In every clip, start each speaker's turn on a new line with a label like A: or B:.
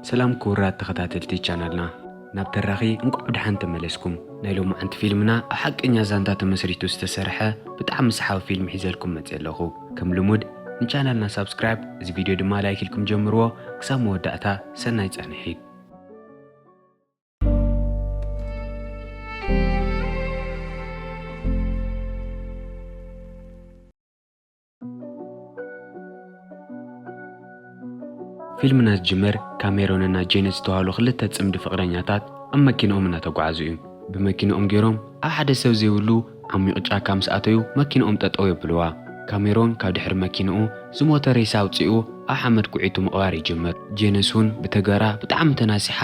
A: ሰላም ክቡራት ተኸታተልቲ ቻናልና ናብ ተራኺ እንቋዕ ብደሓን ተመለስኩም። ናይ ሎማዓንቲ ፊልምና ኣብ ሓቀኛ ዛንታ ተመስሪቱ ዝተሰርሐ ብጣዕሚ ሰሓቢ ፊልም ሒዘልኩም መጺኤ ኣለኹ። ከም ልሙድ ንቻናልና ሳብስክራይብ እዚ ቪድዮ ድማ ላይክ ኢልኩም ጀምርዎ። ክሳብ መወዳእታ ሰናይ ጻንሒት። ፊልምና ዝጅምር ካብ ሜሮንን ናይ ጄኒ ዝተባህሉ ክልተ ጽምዲ ፍቕረኛታት ኣብ መኪንኦም እናተጓዓዙ እዩ። ብመኪንኦም ገይሮም ኣብ ሓደ ሰብ ዘይብሉ ዓሚቕ ጫካ ምስ ኣተዩ መኪንኦም ጠጠው የብልዋ። ካሜሮን ካብ ድሕሪ መኪንኡ ዝሞተ ሬሳ ኣውጺኡ ኣብ ሓመድ ኩዒቱ ምቕባር ይጅምር። ጄንስ ውን ብተገራ ብጣዕሚ ተናሲሓ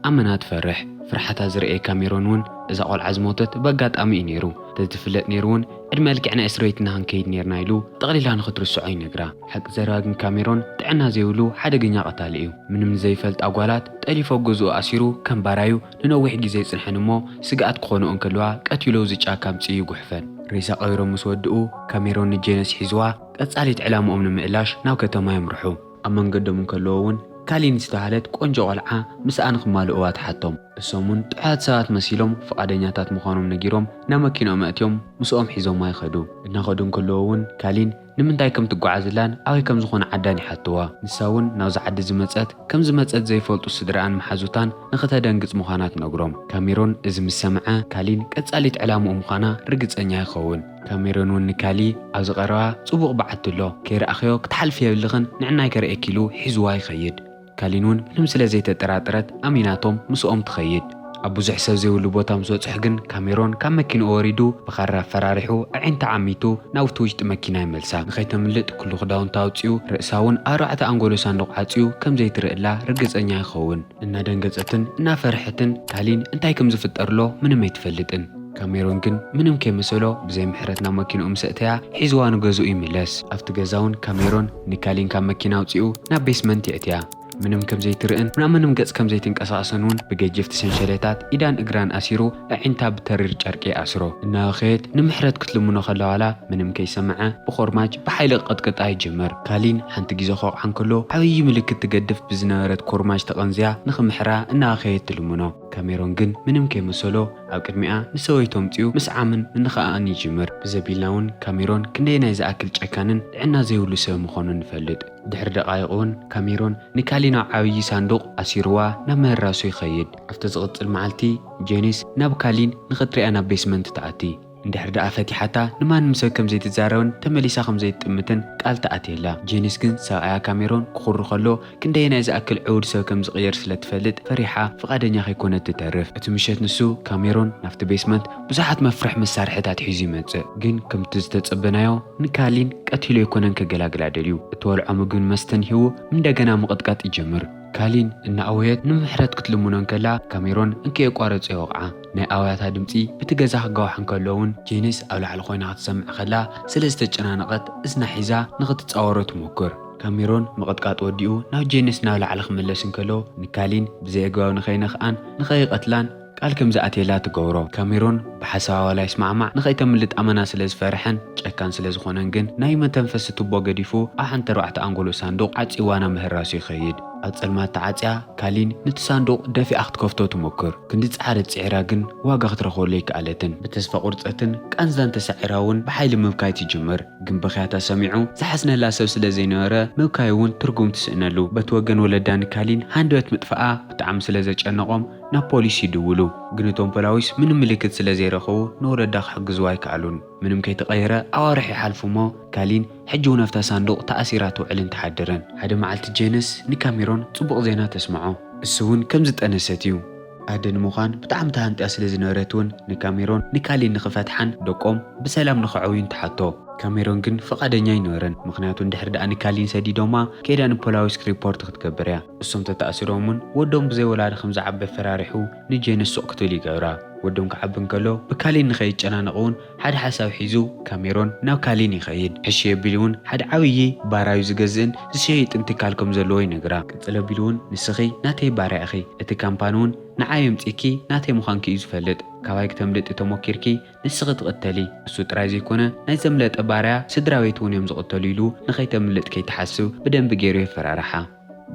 A: ኣመና ትፈርሕ ፍርሓታ ዝርእየካ ሜሮን ውን እዛ ቆልዓ ዝሞተት በጋጣሚ እዩ ኔሩ ተዝትፍለጥ ኔሩ ውን ዕድመ ልክዕ ናይ እስርቤት እና ክንከይድ ኔርና ኢሉ ጠቅሊላ ንክትርስዖ ይነግራ ሓቂ ዘረባ ግን ካብ ሜሮን ጥዕና ዘይብሉ ሓደገኛ ቀታሊ እዩ ምንም ንዘይፈልጣ ጓላት ጠሊፉ ኣብ ገዝኡ ኣሲሩ ከም ባራዩ ንነዊሕ ግዜ ይጽንሐን እሞ ስግኣት ክኮንኦ እንከልዋ ቀቲሉ ኣብዚ ጫካ ኣምጺኡ ይጉሕፈን ሬሳ ቀቢሮም ምስ ወድኡ ካሜሮን ንጄነስ ሒዝዋ ቀጻሊት ዕላምኦም ንምእላሽ ናብ ከተማ የምርሑ። ኣብ መንገዶም እንከለዉ እውን ካሊን ዝተባህለት ቆንጆ ቆልዓ ምስኣ ንክማልእዋ ተሓቶም። እሶም እውን ጥዑያት ሰባት መሲሎም ፍቓደኛታት ምዃኖም ነጊሮም ናብ መኪንኦም ኣእትዮም ምስኦም ሒዞማ ይኸዱ። እናኸዱ እንከለዉ እውን ካሊን ንምንታይ ከም ትጓዓዝላን ኣበይ ከም ዝኾነ ዓዳን ይሓትዋ። ንሳ እውን ናብዚ ዓዲ ዝመጸት ከም ዝመጸት ዘይፈልጡ ስድርኣን መሓዙታን ንክተደንግጽ ምዃና ትነግሮም። ካሜሮን እዚ ምስ ሰምዐ ካሊን ቀጻሊት ዕላምኡ ምዃና ርግጸኛ ይኸውን። ካሜሮን ውን ንካሊ ኣብዚ ቀረባ ጽቡቕ በዓቲ ኣሎ ከይረኣኽዮ ክትሓልፍዮ የብልኽን ንዕናይ ከርእየኪ ኢሉ ሒዝዋ ይኸይድ ካሊን ውን ምንም ስለ ዘይተጠራጠረት ኣሚናቶም ምስኦም ትኸይድ ኣብ ብዙሕ ሰብ ዘይብሉ ቦታ ምስ በጽሑ ግን ካሜሮን ካብ መኪንኡ ወሪዱ ብኻራ ኣፈራሪሑ ኣዒንታ ዓሚቱ ናብቲ ውሽጢ መኪና ይመልሳ ንኸይተምልጥ ኩሉ ክዳውንታ ኣውጺኡ ርእሳ ውን ኣርባዕተ ኣንጎሎ ሳንዱቕ ዓጽዩ ከም ዘይትርእላ ርግጸኛ ይኸውን እናደንገጸትን እናፈርሐትን ካሊን እንታይ ከም ዝፍጠርሎ ምንም ኣይትፈልጥን። ካሜሮን ግን ምንም ከይመሰሎ ብዘይ ምሕረት ናብ መኪንኡ ምስ ኣእተያ ሒዝዋ ንገዝኡ ይምለስ። ኣብቲ ገዛውን ካሜሮን ንካሊን ካብ መኪና ኣውጺኡ ናብ ቤስመንት የእትያ። ምንም ከም ዘይትርእን ናብ ምንም ገጽ ከም ዘይትንቀሳቐስን እውን ብገጀፍቲ ሰንሸሌታት ኢዳን እግራን ኣሲሩ ኣዒንታ ብተሪር ጨርቂ ኣስሮ። እናበኸየት ንምሕረት ክትልምኖ ከላዋላ ምንም ከይሰመዐ ብኾርማጅ ብሓይሊ ክቕጥቅጣ ይጅምር። ካሊን ሓንቲ ግዜ ክወቕዓ እንከሎ ዓብዪ ምልክት ትገድፍ ብዝነበረት ኮርማጅ ተቐንዝያ ንክምሕራ እናበኸየት ትልምኖ። ካሜሮን ግን ምንም ከይመሰሎ ኣብ ቅድሚኣ ንሰበይቱ ኣምጺኡ ምስዓምን ምንኽኣእን ይጅምር። ብዘቢልና እውን ካሜሮን ክንደየናይ ዝኣክል ጨካንን ጥዕና ዘይብሉ ሰብ ምኾኑ ንፈልጥ። ድሕሪ ደቓይቕ እውን ካሜሮን ንካሊን ኣብ ዓብዪ ሳንዱቕ ኣሲሩዋ ናብ ምህራሱ ይኸይድ። ኣብቲ ዝቕጽል መዓልቲ ጄኒስ ናብ ካሊን ንኽትርእያ ናብ ቤስመንት ትኣቲ። እንድሕር ደኣ ፈቲሓታ ንማንም ሰብ ከም ዘይትዛረብን ተመሊሳ ከም ዘይትጥምትን ቃል ትኣትየላ። ጄኒስ ግን ሰብኣያ ካሜሮን ክኹሪ ከሎ ክንደየናይ ዝኣክል ዕዉድ ሰብ ከም ዝቕየር ስለ ትፈልጥ ፈሪሓ ፍቓደኛ ከይኮነት ትተርፍ። እቲ ምሸት ንሱ፣ ካሜሮን፣ ናብቲ ቤስመንት ብዙሓት መፍርሒ መሳርሒታት ሒዙ ይመጽእ። ግን ከምቲ ዝተጸበናዮ ንካሊን ቀቲሉ ኣይኮነን ከገላግላ ደልዩ። እትበልዖ ምግብን መስተን ሂቡ እንደገና ምቕጥቃጥ ይጀምር። ካሊን እናኣወየት ንምሕረት ክትልምኖ እንከላ ካሜሮን እንከየቋረጸ ይወቕዓ። ናይ ኣውያታ ድምጺ ብቲ ገዛ ክጋዋሕ እንከሎ'ውን ጄኒስ ኣብ ላዕሊ ኮይና ክትሰምዕ ከላ ስለ ዝተጨናነቐት እዝና ሒዛ ንኽትጻወሮ ትሞክር። ካሜሮን ምቕጥቃጥ ወዲኡ ናብ ጄኒስ ናብ ላዕሊ ክምለስ እንከሎ ንካሊን ብዘይኣግባብ ንኸይነኽኣን ንኸይቐትላን፣ ቃል ከም ዝኣትየላ ትገብሮ። ካሜሮን ብሓሳባ ዋላ ይስማዕማዕ ንኸይተምልጥ ኣመና ስለ ዝፈርሐን ጨካን ስለ ዝኾነን ግን ናይ መተንፈሲ ቱቦ ገዲፉ ኣብ ሓንቲ ኣርባዕተ ኣንጎሎ ሳንዱቕ ዓጺዋ ናብ ምህራሱ ይኸይድ። ኣብ ጸልማት ተዓጽያ ካሊን ንቲ ሳንዱቕ ደፊኣ ክትከፍቶ ትሞክር። ክንዲ ዝጸዓረት ጽዒራ ግን ዋጋ ክትረኽበሉ ኣይከኣለትን። ብተስፋ ቁርጸትን ቃንዛን ተሳዒራ እውን ብሓይሊ ምብካይ ትጅምር። ግን ብኽያታ ሰሚዑ ዝሓዝነላ ሰብ ስለ ዘይነበረ ምብካይ እውን ትርጉም ትስእነሉ። በቲ ወገን ወለዳ ንካሊን ሃንደበት ምጥፋኣ ብጣዕሚ ስለ ዘጨነቖም፣ ናብ ፖሊስ ይድውሉ ግን እቶም ፖላዊስ ምንም ምልክት ስለ ዘይረኸቡ ንወለዳ ክሕግዝዋ ኣይከኣሉን። ምንም ከይተቐየረ ኣዋርሕ ይሓልፉ እሞ ካሊን ሕጂውን ኣብታ ሳንዱቕ ተኣሲራ ትውዕልን ትሓድርን። ሓደ መዓልቲ ጄነስ ንካሜሮን ጽቡቕ ዜና ተስምዖ። እሱውን ከም ዝጠነሰት እዩ። ኣደ ንምዃን ብጣዕሚ ተሃንጥያ ስለ ዝነበረትውን ንካሜሮን ንካሊን ንክፈትሓን ደቆም ብሰላም ንከዕውዩን ትሓቶ። ካሜሮን ግን ፍቓደኛ ኣይነበረን ምኽንያቱ እንድሕር ደኣ ንካሊን ሰዲዶማ ከይዳ ንፖላዊስ ሪፖርት ክትገብር እያ። እሶም ተታኣሲሮም ውን ወዶም ብዘይ ወላዲ ከም ዝዓበ ፈራሪሑ ንጄኒ ሱቕ ክትብል ይገብራ። ወዶም ክዓቢ እንከሎ ብካሊን ንከይጨናነቕ ውን ሓደ ሓሳብ ሒዙ ካብ ሜሮን ናብ ካሊን ይኸይድ። ሕሺ ኣቢሉ ውን ሓደ ዓብዪ ባራዩ ዝገዝእን ዝሸይጥን ትካል ከም ዘለዎ ይነግራ። ቅጽል ኣቢሉ ውን ንስኺ ናተይ ባርያ ኢኺ፣ እቲ ካምፓኒ ውን ንዓይ ኣምጺእኪ ናተይ ምዃንኪ እዩ ዝፈልጥ። ካባይ ክተምልጢ ተሞኪርኪ ንስኺ ትቕተሊ፣ እሱ ጥራይ ዘይኮነ ናይ ዘምለጠ ባርያ ስድራቤት ውን እዮም ዝቕተሉ ኢሉ ንከይተምልጥ ከይትሓስብ ብደንቢ ጌሩ የፈራርሓ።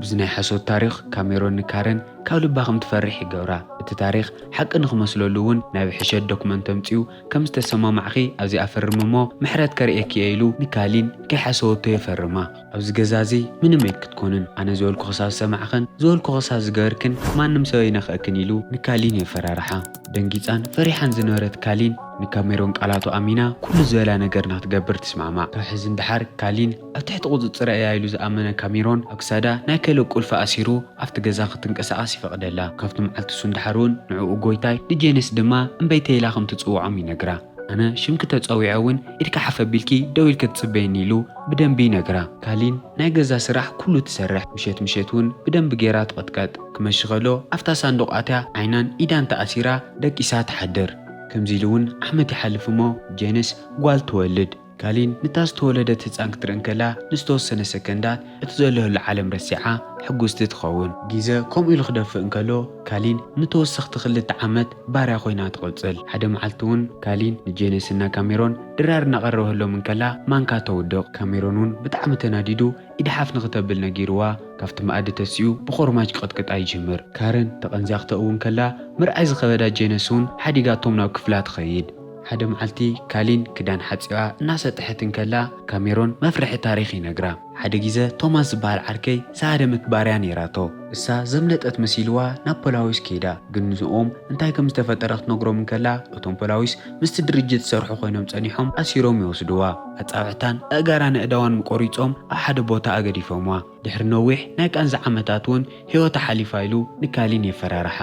A: ብዚ ናይ ሓሶት ታሪኽ ካሜሮን ንካረን ካብ ልባ ከም ትፈርሕ ይገብራ። እቲ ታሪኽ ሓቂ ንክመስለሉ እውን ናይ ብሕሸት ዶክመንት ኣምጺኡ ከም ዝተሰማማዕኺ ኣብዚኣ ፈርሚ እሞ ምሕረት ከርእየኪ እየ ኢሉ ንካሊን ከይሓሰወቶ የፈርማ። ኣብዚ ገዛ እዚ ምንም ኣይክትኮንን ኣነ ዝበልኩ ክሳብ ዝሰማዕክን ዝበልኩ ክሳብ ዝገበርክን ማንም ሰብ ኣይነክእክን ኢሉ ንካሊን የፈራርሓ። ደንጊጻን ፈሪሓን ዝነበረት ካሊን ንካሜሮን ቃላቱ ኣሚና ኩሉ ዝበላ ነገር ንክትገብር ትስማዕማዕ። ካብ ሕዚ ንደሓር ካሊን። ኣብ ትሕቲ ቁጽጽረይ እያ ኢሉ ዝኣመነ ካሚሮን ኣብ ክሳዳ ናይ ከልእ ቁልፊ ኣሲሩ ኣብቲ ገዛ ክትንቀሳቐስ ይፈቕደላ። ካብቲ መዓልቲ ሱን ደሓር'ውን ንዕኡ ጎይታይ ንጄንስ ድማ እምበይተይ ኢላ ከም ትጽውዖም ይነግራ። ኣነ ሽምኪ ተጸዊዐ እውን ኢድኪ ሓፍ ኣቢልኪ ደው ኢልኪ ትጽበይኒ ኢሉ ብደንቢ ይነግራ። ካሊን ናይ ገዛ ስራሕ ኩሉ ትሰርሕ። ምሸት ምሸት እውን ብደንቢ ገይራ ትቕጥቀጥ። ክመሺ ከሎ ኣብታ ሳንዱቕ ኣትያ ዓይናን ኢዳን ተኣሲራ ደቂሳ ትሓድር። ከምዚ ኢሉ እውን ዓመት ይሓልፍ እሞ ጄንስ ጓል ትወልድ። ካሊን ነታ ዝተወለደት ህጻን ክትርኢ እንከላ ንዝተወሰነ ሰከንዳት እቲ ዘለህሉ ዓለም ረሲዓ ሕጉስቲ ትኸውን። ጊዘ ከምኡ ኢሉ ክደፍእ እንከሎ ካሊን ንተወሰኽቲ ክልተ ዓመት ባርያ ኮይና ትቕጽል። ሓደ መዓልቲ'ውን ካሊን ንጄነስ እና ካሜሮን ድራር እናቐረበህሎም እንከላ ማንካ ተውድቕ። ካሜሮን'ውን ብጣዕሚ ተናዲዱ ኢድ ሓፍ ንክተብል ነጊሩዋ ካብቲ መኣዲ ተሲኡ ብኾርማጅ ክቕጥቅጣ ይጅምር። ካረን ተቐንዚያ ክተእዊ እንከላ ምርኣይ ዝኸበዳ ጄነስ'ውን ሓዲጋቶም ናብ ክፍላ ትኸይድ። ሓደ መዓልቲ ካሊን ክዳን ሓጺባ እናሰጥሐት እንከላ ካሜሮን መፍርሒ ታሪኽ ይነግራ። ሓደ ጊዘ ቶማስ ዝበሃል ዓርከይ ዝሃደመት ባርያ ነይራቶ። እሳ ዘምለጠት መሲልዋ ናብ ፖላዊስ ከይዳ። ግን ንዝኦም እንታይ ከም ዝተፈጠረ ክትነግሮም እንከላ እቶም ፖላዊስ ምስቲ ድርጅት ዝሰርሑ ኮይኖም ጸኒሖም ኣሲሮም ይወስድዋ። ኣጻብዕታን ኣእጋራን ኣእዳዋን ምቆሪጾም ኣብ ሓደ ቦታ ኣገዲፎምዋ። ድሕሪ ነዊሕ ናይ ቃንዛ ዓመታት እውን ህይወታ ሓሊፋ ኢሉ ንካሊን የፈራርሓ።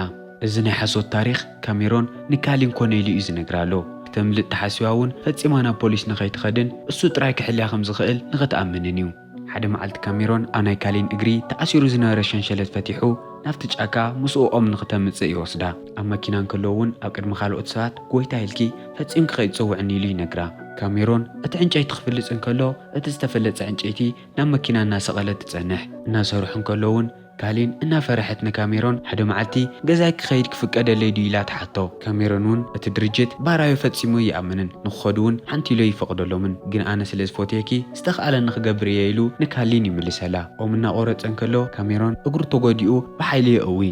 A: እዚ ናይ ሓሶት ታሪኽ ካሜሮን ንካሊን ኮነ ኢሉ እዩ ዝነግራ ኣሎ። ክተምልጥ ተሓሲባ እውን ፈጺማ ናብ ፖሊስ ንኸይትኸድን እሱ ጥራይ ክሕልያ ከም ዝኽእል ንኽትኣምንን እዩ። ሓደ መዓልቲ ካሜሮን ኣብ ናይ ካሊን እግሪ ተኣሲሩ ዝነበረ ሸንሸለት ፈቲሑ ናብቲ ጫካ ምስኡ ኦም ንኽተምጽእ ይወስዳ። ኣብ መኪና እንከለዉ እውን ኣብ ቅድሚ ካልኦት ሰባት ጎይታ ኢልኪ ፈጺምኪ ከይትጽውዕኒ ኢሉ ይነግራ። ካሜሮን እቲ ዕንጨይቲ ክፍልጽ እንከሎ እቲ ዝተፈለጸ ዕንጨይቲ ናብ መኪና እናሰቐለት ትጸንሕ። እናሰርሑ እንከለዉ'ውን ካሊን እናፈረሐት ንካሜሮን ሓደ መዓልቲ ገዛይ ክኸይድ ክፍቀደለይ ድዩ ኢላ ትሓቶ። ካሜሮን'ውን እቲ ድርጅት ባራዮ ፈጺሙ ኣይኣምንን፣ ንክኸዱ'ውን ሓንቲ'ሎ ይፈቕደሎምን፣ ግን ኣነ ስለ ዝፎትየኪ ዝተኻእለኒ ክገብር እየ ኢሉ ንካሊን ይምልሰላ። ኦም እናቖረጸ እንከሎ ካሜሮን እግሩ ተጎዲኡ ብሓይሊ የእዊ።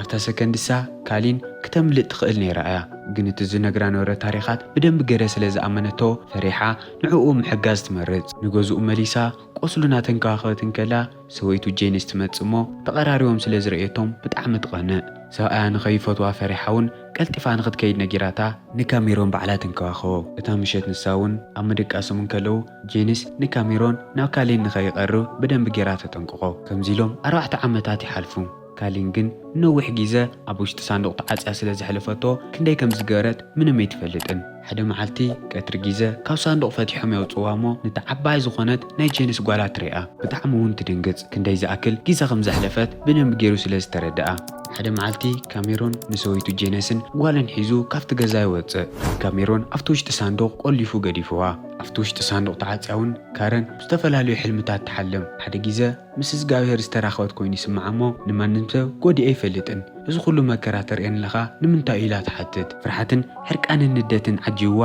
A: ኣብታ ሰከንድ እሳ ካሊን ክተምልጥ ትኽእል ነይራ እያ፣ ግን እቲ ዝነግራ ነበረ ታሪኻት ብደንቢ ገረ ስለ ዝኣመነቶ ፈሪሓ፣ ንዕኡ ምሕጋዝ ትመርጽ። ንገዝኡ መሊሳ ቈስሉ እናተንከባኸበት እንከላ፣ ሰበይቱ ጄኒስ ትመጽእ እሞ ተቐራሪቦም ስለ ዝርእየቶም ብጣዕሚ ትቐንእ። ሰብኣያ ንኸይፈትዋ ፈሪሓ'ውን ቀልጢፋ ንኽትከይድ ነጊራታ፣ ንካሜሮን ባዕላ ትንከባኸቦ። እታ ምሸት ንሳ'ውን ኣብ ምድቃሶም እንከለዉ፣ ጄኒስ ንካሜሮን ናብ ካሌን ንኸይቐርብ ብደንቢ ገይራ ተጠንቅቖ። ከምዚ ኢሎም ኣርባዕተ ዓመታት ይሓልፉ። ካሊን ግን ንነዊሕ ጊዘ ኣብ ውሽጢ ሳንዱቕ ተዓጽያ ስለ ዘሕለፈቶ ክንደይ ከም ዝገበረት ምንም ኣይትፈልጥን። ሓደ መዓልቲ ቀትሪ ጊዘ ካብ ሳንዱቕ ፈቲሖም የውጽእዋ እሞ ነታ ዓባይ ዝኾነት ናይ ጀንስ ጓላ ትሪኣ። ብጣዕሚ ውን ትድንግጽ ክንደይ ዝኣክል ጊዘ ከም ዘሕለፈት ብደንቢ ጌሩ ስለ ዝተረደኣ። ሓደ መዓልቲ ካሜሮን ንሰበይቱ ጀነስን ጓልን ሒዙ ካብቲ ገዛ ይወጽእ። ግን ካሜሮን ኣብቲ ውሽጢ ሳንዱቕ ቆሊፉ ገዲፍዋ። ኣብቲ ውሽጢ ሳንዱቕ ተዓጽያ ውን ካረን ብዝተፈላለዩ ሕልምታት ትሓልም። ሓደ ጊዘ። ምስ እዝጋብሄር ዝተራኸበት ኮይኑ ይስምዓ እሞ ንማንም ሰብ ጎዲኤ ኣይፈልጥን። እዚ ኩሉ መከራ ተርእየኒ ለኻ ንምንታይ እዩ ኢላ ትሓትት። ፍርሓትን ሕርቃንን ንደትን ዓጂብዋ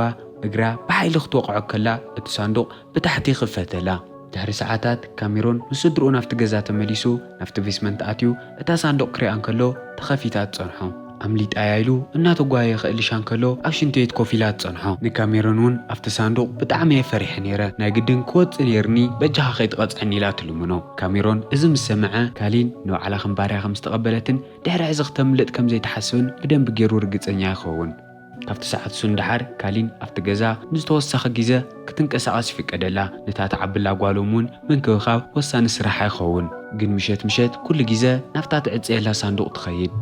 A: እግራ ብሓይሊ ክትወቕዖ ከላ እቲ ሳንዱቕ ብታሕቲ ይኽፈተላ። ድሕሪ ሰዓታት ካሜሮን ምስ ስድርኡ ናብቲ ገዛ ተመሊሱ ናብቲ ቤስመንት ኣትዩ እታ ሳንዱቕ ክሪኣ እንከሎ ተኸፊታ ትጸንሖ። ኣምሊጣ'ያ ኢሉ እናተጓየየ ክእልሻ እንከሎ ኣብ ሽንትቤት ኮፍ ኢላ ትጸንሖ። ንካሜሮን እውን ኣብቲ ሳንዱቕ ብጣዕሚ'የ ፈሪሐ ነይረ፣ ናይ ግድን ክወጽእ ነይርኒ በጃኻ ከይትቐጽዐኒ ኢላ ትልምኖ። ካሜሮን እዚ ምስ ሰምዐ፣ ካሊን ንባዕላ ከም ባርያ ከም ዝተቐበለትን ድሕሪ ሕዚ ክተምልጥ ከም ዘይትሓስብን ብደንቢ ገይሩ ርግጸኛ ይኸውን። ካብቲ ሰዓት ሱን ደሓር ካሊን ኣብቲ ገዛ ንዝተወሰኸ ግዘ ክትንቀሳቐስ ይፍቀደላ። ነታ ትዓብላ ጓሎም እውን ምንክብኻብ ወሳኒ ስራሓ ይኸውን። ግን ምሸት ምሸት ኩሉ ግዘ ናብታ ትዕፀየላ ሳንዱቕ ትኸይድ።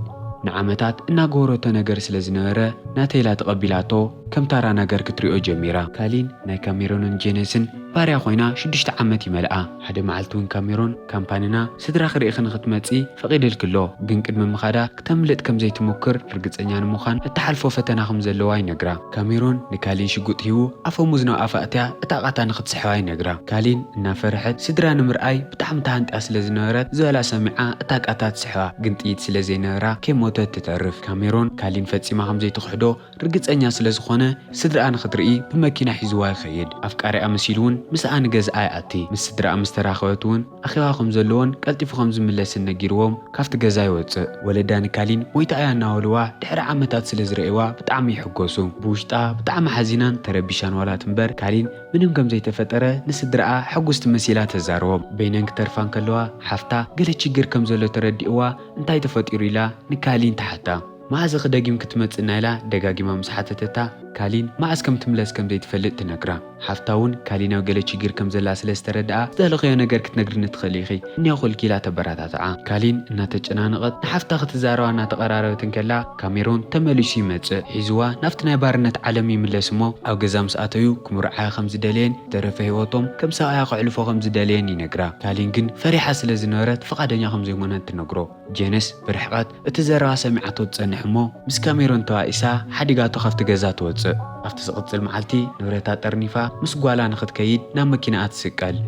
A: ንዓመታት እናገበረቶ ነገር ስለ ዝነበረ ናቴላ ተቐቢላቶ ከም ታራ ነገር ክትሪኦ ጀሚራ። ካሊን ናይ ካሜሮንን ጄነስን ባርያ ኮይና ሽዱሽተ ዓመት ይመልኣ። ሓደ መዓልቲ እውን ካሜሮን። ካምፓኒና ስድራኺ ርኢኺ ንኽትመጺ ፈቒድልኪ ኣሎ፣ ግን ቅድሚ ምኻዳ ክተምልጥ ከም ዘይትሙክር ርግጸኛ ንምዃን እትሓልፎ ፈተና ከም ዘለዋ ይነግራ። ካሜሮን ንካሊን ሽጉጥ ሂቡ ኣፈሙዝ ናብ ኣፋ ኣእትያ እታ ቃታ ንኽትስሕባ ይነግራ። ካሊን እናፈርሐት ስድራ ንምርኣይ ብጣዕሚ ተሃንጥያ ስለ ዝነበረት ዝበላ ሰሚዓ እታ ቃታ ትስሕባ፣ ግን ጥይት ስለ ዘይነበራ ከይሞተት ትተርፍ። ካሜሮን ካሊን ፈጺማ ከም ዘይትኽሕዶ፣ ርግጸኛ ስለ ዝኾነ ስድርኣ ንኽትርኢ ብመኪና ሒዝዋ ይኸይድ። ኣፍቃሪኣ መሲሉ ውን ምስኣ ንገዝኣ ይኣቲ። ምስ ስድርኣ ምስ ተራኸበት ውን ኣኼባ ከም ዘለዎን ቀልጢፉ ከም ዝምለስን ነጊርዎም ካብቲ ገዛ ይወጽእ። ወለዳ ንካሊን ሞይታ እያ እናበልዋ ድሕሪ ዓመታት ስለ ዝርእይዋ ብጣዕሚ ይሕጎሱ። ብውሽጣ ብጣዕሚ ሓዚናን ተረቢሻን ዋላ ትንበር ካሊን ምንም ከም ዘይተፈጠረ ንስድርኣ ሕጉስቲ መሲላ ተዛርቦም። በይነን ክተርፋ እንከለዋ ሓፍታ ገለ ችግር ከም ዘሎ ተረዲእዋ እንታይ ተፈጢሩ ኢላ ንካሊን ትሓታ። መኣዝ እኺ ደጊም ክትመጽእ ናይላ ደጋጊማ ምስ ሓተተታ ካሊን መኣዝ ከም ትምለስ ከም ዘይትፈልጥ ትነግራ። ሓፍታ እውን ካሊን ኣብ ገለ ቺግር ከም ዘላ ስለ ዝተረድኣ ዝደለኽዮ ነገር ክትነግርኒ ትኽእሊ ኢኺ እኔኹ እልኪ ኢላ ተበራታትዓ። ካሊን እናተጨናነቐት ንሓፍታ ክትዛረባ እናተቐራረበት እንከላ ካሜሮን ተመሊሱ ይመጽእ። ሒዝዋ ናብቲ ናይ ባርነት ዓለም ይምለስ እሞ ኣብ ገዛ ምስ ኣተዩ ክምርዓያ ከም ዝደለየን ዝተረፈ ህይወቶም ከም ሰብኣያ ከሕልፎ ከም ዝደለየን ይነግራ። ካሊን ግን ፈሪሓ ስለ ዝነበረት ፍቓደኛ ከም ዘይኮነት ትነግሮ። ጄንስ ብርሕቐት እቲ ዘረባ ሰሚዓቶ ትጸንሕ እሞ ምስ ካሜሮን ተባኢሳ ሓዲጋቶ ካብቲ ገዛ ትወጽእ። ኣብቲ ዝቕጽል መዓልቲ ንብረታ ጠርኒፋ ምስ ጓላ ንኽትከይድ ናብ መኪናኣ ትስቀል።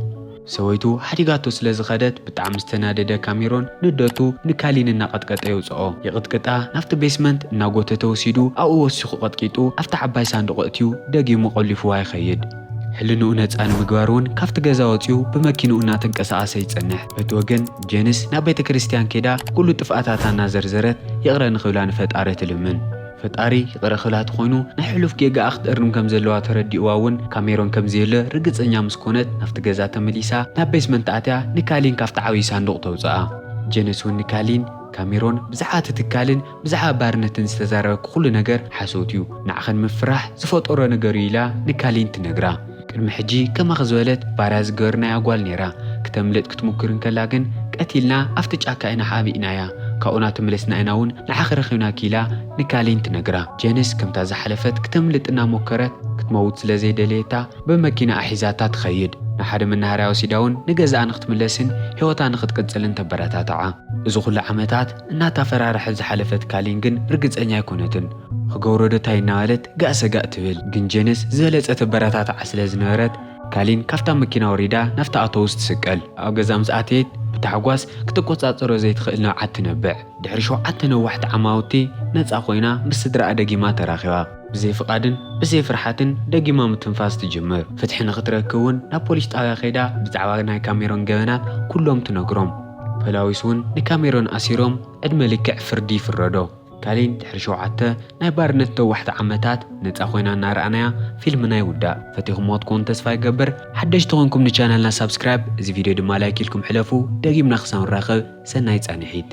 A: ሰበይቱ ሓዲጋቶ ስለ ዝኸደት ብጣዕሚ ዝተናደደ ካሜሮን ንደቱ ንካሊን እናቐጥቀጠ የውጽኦ። ይቕጥቅጣ ናብቲ ቤስመንት እናጎተተ ወሲዱ ኣብኡ ወሲኹ ቀጥቂጡ ኣብታ ዓባይ ሳንዱቕ ኣእትዩ ደጊሙ ቆሊፉዋ ይኸይድ። ሕልንኡ ነጻ ንምግባር እውን ካብቲ ገዛ ወጺኡ ብመኪንኡ እናተንቀሳቐሰ ይጸንሕ። በቲ ወገን ጄንስ ናብ ቤተ ክርስቲያን ከይዳ ኩሉ ጥፍኣታታ እናዘርዘረት ይቕረ ንክብላ ንፈጣሪ ትልምን። ፈጣሪ ይቕረ ክብላ ተኾይኑ ናይ ሕሉፍ ጌጋኣ ክትእርም ከም ዘለዋ ተረዲእዋ እውን ካሜሮን ከም ዘየለ ርግጸኛ ምስ ኮነት ናብቲ ገዛ ተመሊሳ ናብ ቤስመንት ኣትያ ንካሊን ካብቲ ዓብዪ ሳንዱቕ ተውጽኣ። ጄንስ እውን ንካሊን፣ ካሜሮን ብዛዕባ እቲ ትካልን ብዛዕባ ባርነተን ዝተዛረበ ኩሉ ነገር ሓሶት እዩ ንዓኺ ንምፍራሕ ዝፈጠሮ ነገር እዩ ኢላ ንካሊን ትነግራ። ቅድሚ ሕጂ ከማኺ ዝበለት ባርያ ዝገበርናያ ጓል ኔራ ክተምልጥ ክትሙክር እንከላ ግን ቀቲልና ኣብቲ ጫካ ኢና ሓቢእናያ ካብኡ ናተመለስና ኢና ውን ንዓኺ ረኺብናኪ ኢላ ንካሊን ትነግራ። ጀንስ ከምታ ዝሓለፈት ክተምልጥ እናሞከረት ክትመውት ስለ ዘይደለየታ ብመኪናኣ ሒዛታ ትኸይድ ናብሓደ መናሃርያ ወሲዳ ውን ንገዛኣ ንክትምለስን ሂወታ ንክትቅጽልን ተበረታትዓ እዚ ኩሉ ዓመታት እናታፈራረሐት ዝሓለፈት ካሊን ግን ርግጸኛ ኣይኮነትን። ኽገብሮ ዶ ታይ እናበለት ጋእ ሰጋእ ትብል። ግን ጄንስ ዝበለጸ ተበረታትዓ ስለ ዝነበረት ካሊን ካብታ መኪና ወሪዳ ናብታ ኣቶውስ ትስቀል። ኣብ ገዛ ምስ ኣተየት ብታሕጓስ ክትቆጻጸሮ ዘይትኽእል ንብዓት ትነብዕ። ድሕሪ ሸውዓተ ነዋሕቲ ዓማውቲ ነጻ ኮይና ምስ ስድራኣ ደጊማ ተራኺባ። ብዘይ ፍቓድን ብዘይ ፍርሓትን ደጊማ ምትንፋስ ትጅምር። ፍትሒ ንኽትረክብ ውን ናብ ፖሊስ ጣብያ ከይዳ ብዛዕባ ናይ ካሜሮን ገበናት ኩሎም ትነግሮም። ፐላዊስ ውን ንካሜሮን ኣሲሮም ዕድመ ልክዕ ፍርዲ ይፍረዶ። ካሊን ድሕሪ ሸውዓተ ናይ ባርነት ነዋሕቲ ዓመታት ነጻ ኮይና እናረኣናያ ፊልምና ይውዳእ። ፈቲኹምዎ ትኮኑ ተስፋ ይገብር። ሓደሽቲ ኮንኩም ንቻነልና ሳብስክራይብ እዚ ቪድዮ ድማ ላይክ ኢልኩም ሕለፉ። ደጊምና ክሳብ ንራኸብ ሰናይ ጻኒሒት።